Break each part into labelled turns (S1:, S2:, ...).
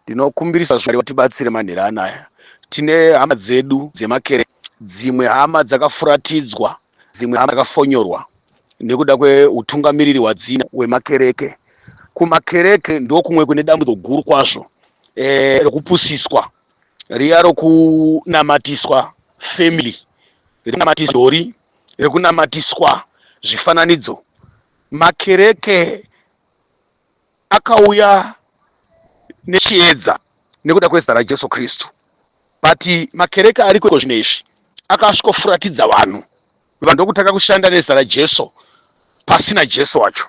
S1: ndinokumbirisa zvimari vatibatsire manhera anaya tine hama dzedu dzemakere dzimwe hama dzakafuratidzwa dzimwe hama dzakafonyorwa nekuda kweutungamiriri hwadzina wemakereke kumakereke ndokumwe kune dambudzo guru kwazvo eh, rokupusiswa riya rokunamatiswa family rekunamatiswa dori rekunamatiswa zvifananidzo makereke akauya nechiedza nekuda kwezita raJesu Kristu but makereke ariko iko zvino izvi akasvikofuratidza vanhu vanhu ndokutanga kushanda nezita raJesu pasina Jesu wacho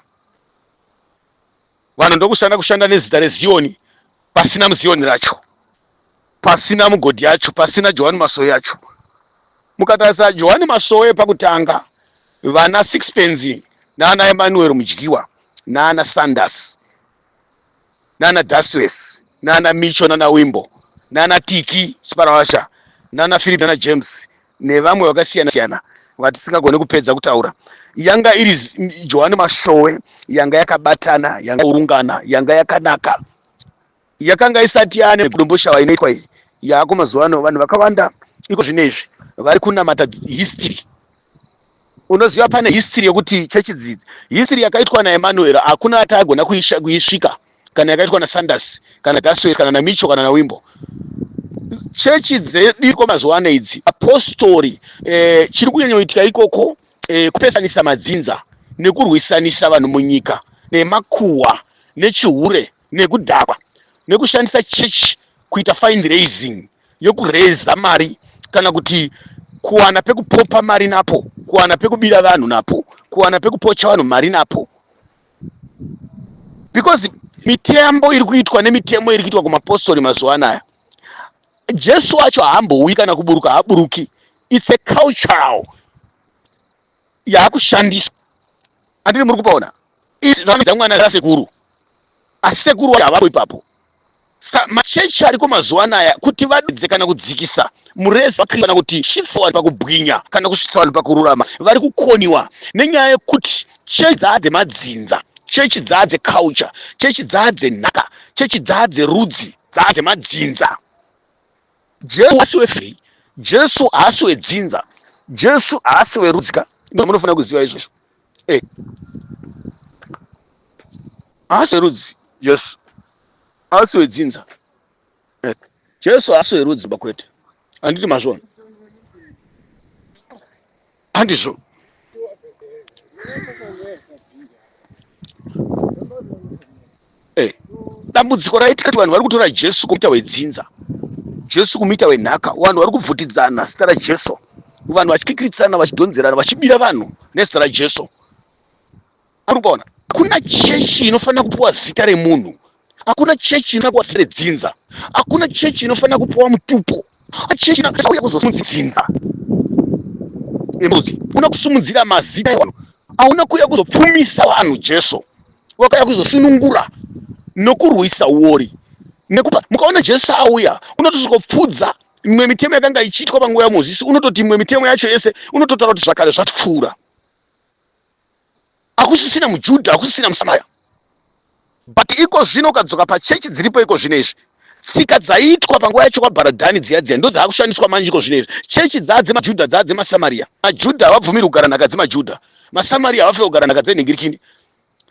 S1: vanhu ndokushanda kushanda nezita reziyoni pasina muziyoni racho pasina mugodhi yacho pasina johani masoyi yacho Mukatarisa Johani Masowe pakutanga, vana Sixpence naana Emmanuel Mudyiwa naana Sanders naana Dustless naana Micho naana Wimbo naana Tiki Chiparavasha naana Philip naana James nevamwe vakasiyana siyana vatisingagone kupedza kutaura yanga iri Johani Masowe yanga yakabatana yanga urungana yanga yakanaka yakanga isati yane kudomboshawa inoitwa iyi yaako mazuva ano vanhu vakawanda iko zvino izvi vari kunamata history unoziva pane history yekuti chechi dzidzi history yakaitwa naemanuel hakuna ati agona kuisvika kana yakaitwa nasanders kana daswes kana namicho kana nawimbo chechi dzedu iko mazuva ano idzi apostori eh, chiri kunyanyoitika ikoko e, kupesanisa madzinza nekurwisanisa vanhu munyika nemakuhwa nechihure nekudhakwa nekushandisa chechi kuita fine raising yokureza mari kana kuti kuwana pekupopa mari napo kuwana pekubira vanhu napo kuwana pekupocha vanhu mari napo because mitembo iri kuitwa nemitemo iri kuitwa kumapostori mazuva anaya jesu wacho haambouyi kana kuburuka haaburuki its a cultural yaakushandiswa andiri muri kupaona izvamwana rasekuru asi sekuru wacho havako ipapo Ska machechi ariko mazuva anaya kuti vadudze kana kudzikisa mureza waKristu kana kuti svitsa vanhu pakubwinya kana kusvitsa vanhu pakururama vari kukoniwa nenyaya yekuti chechi dzaa dzemadzinza, chechi dzaa dzeculture, chechi dzaa dzenhaka, chechi dzaa dzerudzi, dzaa dzemadzinza. Jesu haasi wefei, Jesu haasi wedzinza, Jesu haasi werudzi ka, ndo munofanira kuziva izvozvo. Eh, haasi werudzi Jesu. Haasi wedzinza. Eh, Jesu haasi werudzi bakwete. Handiti mazvona? Handizvo. Eh, dambudziko raitika kuti vanhu vari kutora Jesu kumuita wedzinza. Jesu kumuita wenhaka. Vanhu vari kubvutidzana zita raJesu. Vanhu vachikikiritsana, vachidhonzerana, vachibira vanhu nezita raJesu. muri kuona hakuna chechi inofanira kupiwa zita remunhu hakuna chechi inofanira kuwa sere dzinza hakuna chechi inofanira kupiwa mutupo chechi inouya kuzosimudzira dzinza embuzi una kusimudzira mazita evanhu hauna kuuya kuzopfumisa vanhu jesu wakauya kuzosunungura nokurwisa uori nekupa mukaona jesu auya unotozokopfudza imwe mitemo yakanga ichiitwa panguva yamozisi unototi imwe mitemo yacho yese unototaura kuti zvakare zvatipfuura hakusisina mujudha hakusisina musamaya but iko zvino ukadzoka pachechi dziripo iko zvino izvi tsika dzaiitwa panguva yacho kwabharadhani dziya dziya ndo dzaakushandiswa manje iko zvino izvi chechi dzaa dzemajudha dzaa dzemasamaria majudha havabvumiri kugara nhaka dzemajudha masamaria havafe kugara nhaka dzenhingirikini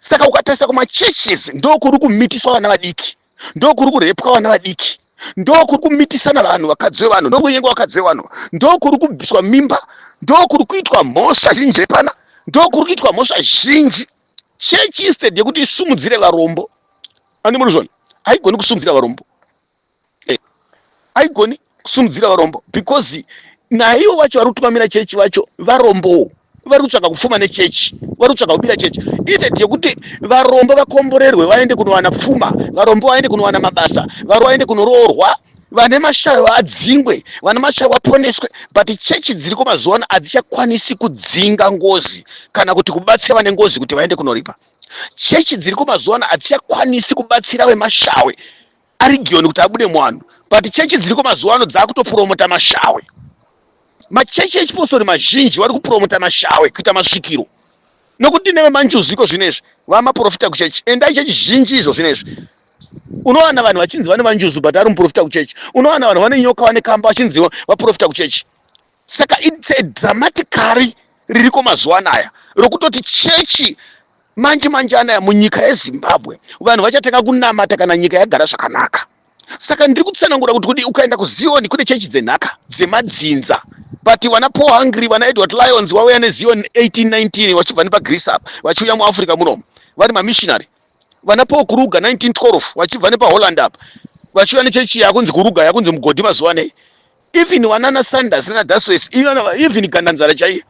S1: saka ukatarisa kumachurches ndokuri kumitiswa vana vadiki ndokuri kurepwa vana vadiki ndokuri kumitisana vanhu vakadzi vevanhu ndokunyengwa vakadzi vevanhu ndokuri kubviswa mimba ndokuri kuitwa mhosva zhinji repana ndokuri kuitwa mhosva zhinji chechi instead yekuti isumudzire varombo andi murizvona haigoni kusumudzira varombo eh, haigoni kusundidzira varombo because naivo vacho vari kutungamira chechi vacho varombowo vari kutsvaka kupfuma nechechi vari kutsvaka kubira chechi instead yekuti varombo vakomborerwe vaende kunowana pfuma varombo vaende kunowana mabasa vari vaende kunoroorwa vane mashayo vadzingwe vane mashayo vaponeswe but chechi dziriko mazuva ano hadzichakwanisi kudzinga ngozi kana kuti kubatsira vane ngozi kuti vaende kunoripa chechi dziriko mazuva ano hadzichakwanisi kubatsira vemashawe arigioni kuti abude muvanhu but chechi dziriko mazuva ano dzaakutopuromota mashawe machechi echipostori mazhinji vari kupuromota mashawe kuita masvikiro nokuti neve manjuziko zvino izvi vamaprofita kuchechi endai chechi zhinji izvo zvino izvi unowana vanhu vachinzi vane vanjuzu but ari muprofita kuchechi unowana vanhu vane nyoka vane kamba vachinzi vaprofita kuchechi saka its a dramaticary ririko mazuva anaya rokutoti chechi manje manje anaya munyika yezimbabwe vanhu vachatanga kunamata kana nyika yagara zvakanaka saka ndiri kutsanangura kuti kudi ukaenda kuzioni kune chechi dzenhaka dzemadzinza but vana paul hungry vana edward lions vauya nezioni 1819 vachibva nepagreece apa vachiuya muafrica munomu vari mamissionary vana paul kuruga 1912 vachibva nepaholland apa vachiva nechechi yakunzi kuruga yakunzi mugodhi mazuva anei even vanana sanders nana daswes even gandanzara chaiye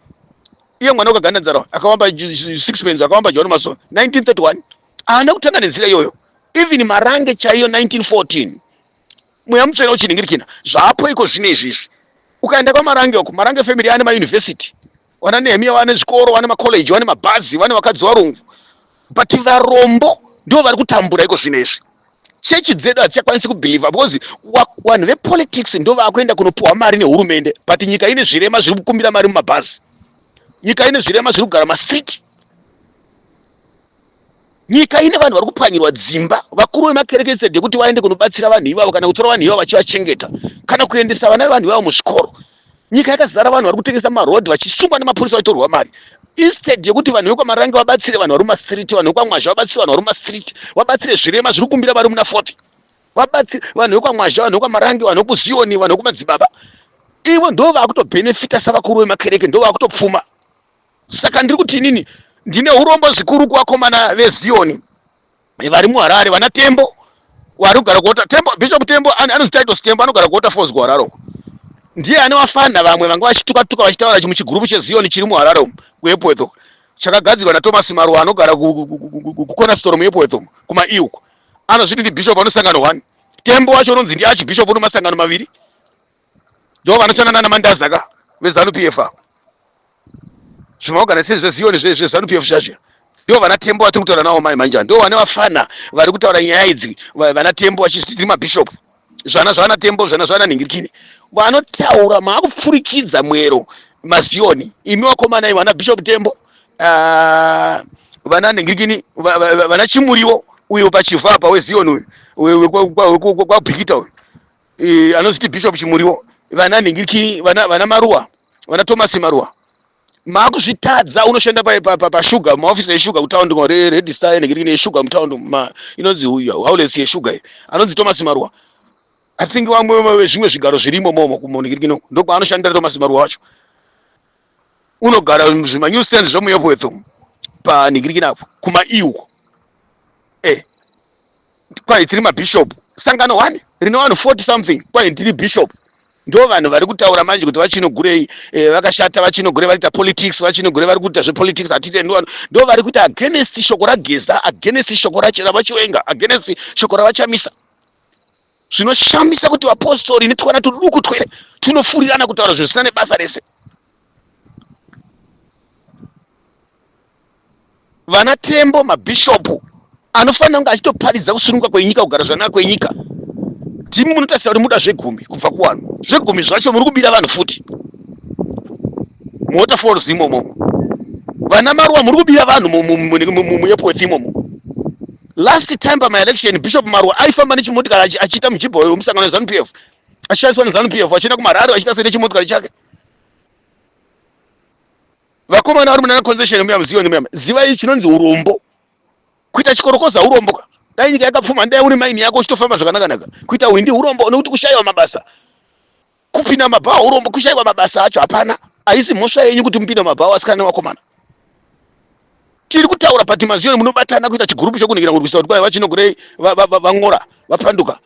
S1: iye mwana wekagandanzara akawamba six pens akawamba john mason 1931 haana kutanga nenzira iyoyo even marange chaiyo 1914 mweya mutsvene uchiningirikina zvapo iko zvine izvizvi ukaenda kwamarange uko marange family ane mayunivhesiti wana nehemiya wane zvikoro wane macollege wane mabhazi wane vakadzi varungu but varombo ndivo vari kutambura iko zvino izvi chechi dzedu hadzichakwanisi kubhilivha because vanhu vepolitics ndo vakuenda kunopiwa mari nehurumende but nyika ine zvirema zviri kukumbira mari mumabhazi nyika ine zvirema zviri kugara mastreet nyika ine vanhu vari kupwanyirwa dzimba vakuru vemakerekese dekuti vaende kunobatsira vanhu ivavo kana kutora vanhu ivavo vachivachengeta kana kuendesa vana vevanhu ivavo muzvikoro nyika yakazara vanhu vari kutengesa marodhi vachisungwa nemapurisa vachitorwa mari instead yekuti vanhu vekwamarange vabatsire vanhu vari mumastreet vanhu vekwamwazha vabatsire vanhu vari mumastreet vabatsire zvirema zviri kumbira vari muna fopi vabatsire vanhu vekwamwazha vanhu vekwamarange vanhu vekuziyoni vanhu vekumadzibaba ivo ndo vakutobhenefita savakuru vemakereke ndo vakutopfuma saka ndiri kuti inini ndine urombo zvikuru kuvakomana veziyoni vari muharare vana tembo wari kugara kuota tembo bishop tembo anonzi title tembo anogara kuota falls kuharare uko ndiye ane wafanha vamwe vanga vachituka tuka vachitaura chimuchigurupu chezioni chiri muharare umu kuepworth uko chakagadzirwa nathomas maruwa anogara kukona sitoro muepworth umu kumaiu uko anozviti ndibishop anosangano one tembo wacho unonzi ndiarchbishop unomasangano maviri ndo vanoshanda nana mandaza ka vezanu pf ava zvimaoganisi zvezioni zvezanu pf zvazvira ndo vana tembo vatiri kutaura navo mai manjani ndo vane vafana vari kutaura nyaya idzi vana tembo vachitiri mabhishopu zvana zvana tembo zvana zvana nhingirikini vanotaura maakupfurikidza mwero mazioni imi vakomana ivo vana bishop tembo ah, vana nhingirikini vana chimuriwo uyo pachiva apa wezioni uyo wekwabhikita uyo e, anozviti bishop chimuriwo vana nhingiriki vana, vana maruwa vana thomas maruwa makuzvitadza unoshanda pashuga maofisi eshuga kutaundi redista enhingiriki neshuga mutaundi inonzi haulesi yeshuga iyi anonzi thomas maruwa i think vamwe vezvimwe zvigaro zvirimo momo kumunhingiriki nokwaanoshanda thomas maruwa wacho unogara zvima new stand zvemuepwetho panhingirikina apo kuma e uko eh kwai tiri mabishop sangano one rine vanhu 40 something kwai ndiri bishop ndo vanhu vari kutaura manje kuti vachinogurei eh, vakashata vachinogure vari kuita politics vachinogure vari kuita zvepolitics hatite ndo ndo vari kuti against shoko rageza against shoko ravachiwenga against shoko ravachamisa zvinoshamisa kuti vapostori netwana tuduku twese tunofurirana kutaura zvinhu zvisina nebasa rese vana tembo mabhishopu anofanira kunge achitoparidza kusununguka kwenyika kugara zvanaka kwenyika timi munotarisira kuti muda zvegumi kubva kuvanhu zvegumi zvacho muri kubira vanhu futi muwaterfalls imomo vana maruwa muri kubira vanhu muyepoeth imomo last time pamaelection bishop marwa aifamba nechimotikari achiita mujibha uyo wemusangano wezanup f achishandiswa nezanup f achienda kumararo achiita sei nechimotikari chake vakomana vari munana concession muya muziva nemuya zivai chinonzi urombo kuita chikorokoza urombo ka dai nyika yakapfuma ndai uri maini yako uchitofamba zvakanakanaka kuita hwindi urombo nekuti kushayiwa mabasa kupinda mabhawa urombo kushaiwa mabasa acho hapana haisi mhosva yenyu kuti mupinda mabhawa asikana newakomana tiri kutaura but maziyoni munobatana kuita chigurupu chokunhikira kurwisa kuti kwai vachinogurei vang'ora vapanduka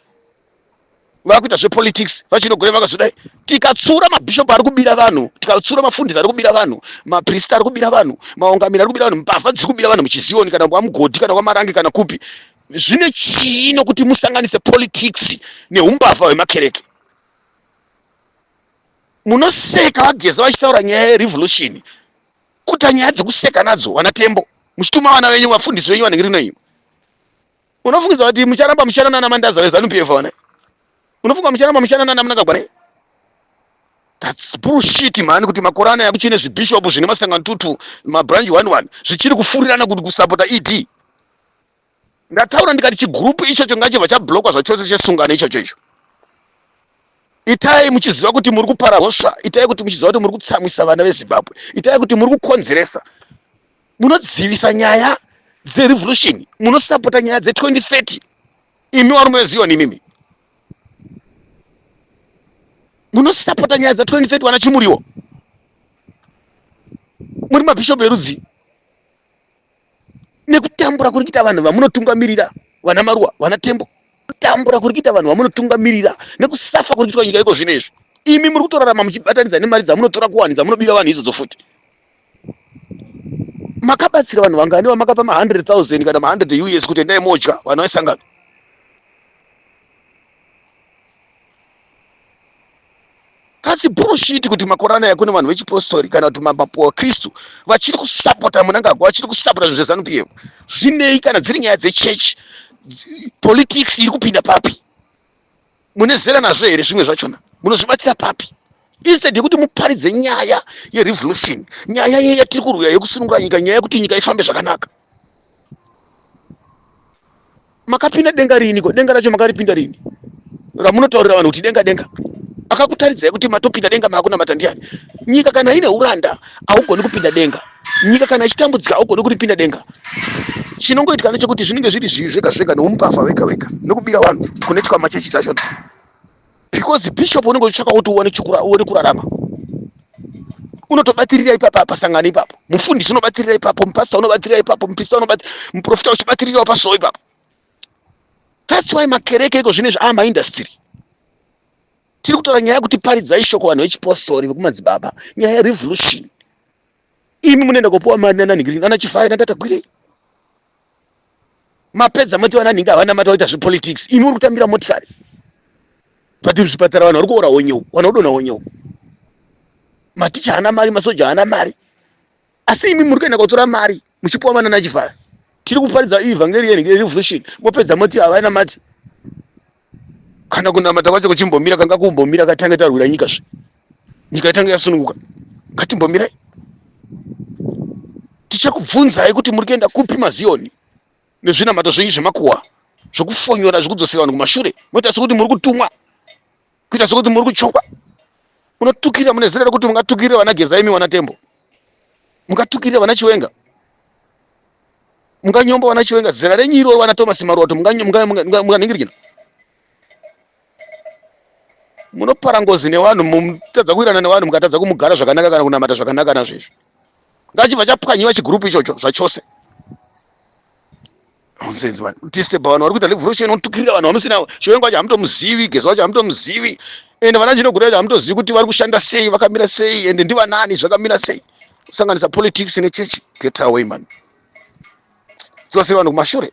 S1: vakuita zvepolitics vachinogurei vakazodai tikatsura mabhishopu ari kubira vanhu tikatsura mafundisi ari kubira vanhu maprista ari kubira vanhu maungamiri ari kubira vanhu mbavha dziri kubira vanhu muchiziyoni kana kwamugodhi kana kwamarangi kana kupi zvine chii nokuti musanganise politics neumbavha hwemakereke munoseka vageza vachitaura nyaya yerevolution kuta nyaya dzekuseka nadzo vana tembo muchituma vana venyu vafundisi venyu vanenge rino imi unofungidza kuti mucharamba muchana nana mandaza vezanup f vana unofunga mucharamba muchana nana munangagwana thats bullshit mhani kuti makore anaya kuchine zvibhishopu zvine masangano tutu mabranch one one zvichiri kufurirana kuti kusapota ed ndataura ndikati chigroup ichocho ngachibva chablokwa zvachose chesungano ichocho icho itai muchiziva kuti muri kupara hosva itai kuti muchiziva kuti muri kutsamwisa vana vezimbabwe itai kuti muri kukonzeresa munodzivisa nyaya dzerevolution munosapota nyaya dze2030 imi warume wezioni imimi munosapota nyaya dza2030 wana chimuriwo muri mabhishopu erudzii nekutambura kuri kuita vanhu vamunotungamirira vana maruwa vana tembo kutambura kuri kuita vanhu vamunotungamirira nekusafa kuri kuitwa nyika iko zvino izvi imi muri kutorarama muchibatanidza nemari dzamunotora kuwani dzamunobira vanhu izodzo futi makabatsira vanhu vangani vamakapa ma100000 kana ma100 us kuti endai modya vanhu vaisangana That's bullshit kuti makore anaya kune vanhu vechipostori kana kuti mapapu akristu vachiri kusapota munangagwa vachiri kusapota zvinhu zvezanu pf zvinei kana dziri nyaya dzechechi politics iri kupinda papi mune zera nazvo here zvimwe zvachona munozvibatsira papi instead yekuti muparidze nyaya yerevolution nyaya ye yatiri kurwira yekusunungura nyika nyaya yekuti nyika ifambe zvakanaka makapinda denga riiniko denga racho makaripinda rini ramunotaurira vanhu kuti denga denga akakutaridzai kuti matopinda denga maakunamata ndiani nyika kana ine uranda haugoni kupinda denga nyika kana ichitambudzika haugoni kuripinda denga chinongoitika ndechekuti zvinenge zviri zvivi zvega zvega neumupavha wega wega nokubira vanhu kune chikwama chechi zachona because bishop unenge uchitsvaka kuti uone uone kurarama unotobatirira ipapa pasangano ipapo mufundisi unobatirira ipapo mupasita unobatirira ipapo mupista muprofita uchibatirirawo pasoo ipapo thats why makereke iko zvine zvaama ah, industry tiri kutaura nyaya yekuti paridzai shoko vanhu vechipostori vekumadzibaba nyaya yerevolution imi munoenda kopiwa mari nananhingi nana chifaya natatagwirei mapedza moti vananhingi havana mati vaita zvepolitics imi uri kutambira motikari but zvipatara vanhu vari kuora honyewo vanhu vodona honyewo maticha haana mari masoja haana mari asi imi muri kuenda kotora mari muchipiwa manana chifara tiri kuparidza ivhangeri yerevolution mopedza moti havana mati kana kunamata kwacho kuchimbomira kanga kumbomira katange tarwira nyika zve nyika yatange yasununguka ngatimbomirai tichakubvunzai kuti muri kuenda kupi maziyoni nezvinamato zvenyu zvemakuhwa zvokufonyora zvekudzosera vanhu kumashure moita sekuti muri kutumwa kuita sekuti muri kuchongwa unotukira mune zera rekuti mungatukirira vana geza imi wana tembo mungatukirira vana chiwenga munganyomba vana chiwenga zera renyu iroro vana thomas maruwa to munganingirikina munopara ngozi nevanhu mutadza kuirana nevanhu mukatadza kumugara zvakanaka kana kunamata zvakanaka nazvezvi ngachibva chapwanyiwa chigurupu ichocho zvachose nonsense man tiste pavanhu vari kuita revolution unotukirira vanhu vamusina chiwengo wacho hamutomuzivi gezi wacho hamutomuzivi ende vana chinogura yacho hamutozivi kuti vari kushanda sei vakamira sei ende ndivanani zvakamira sei kusanganisa politics nechechi get away man dzose vanhu kumashure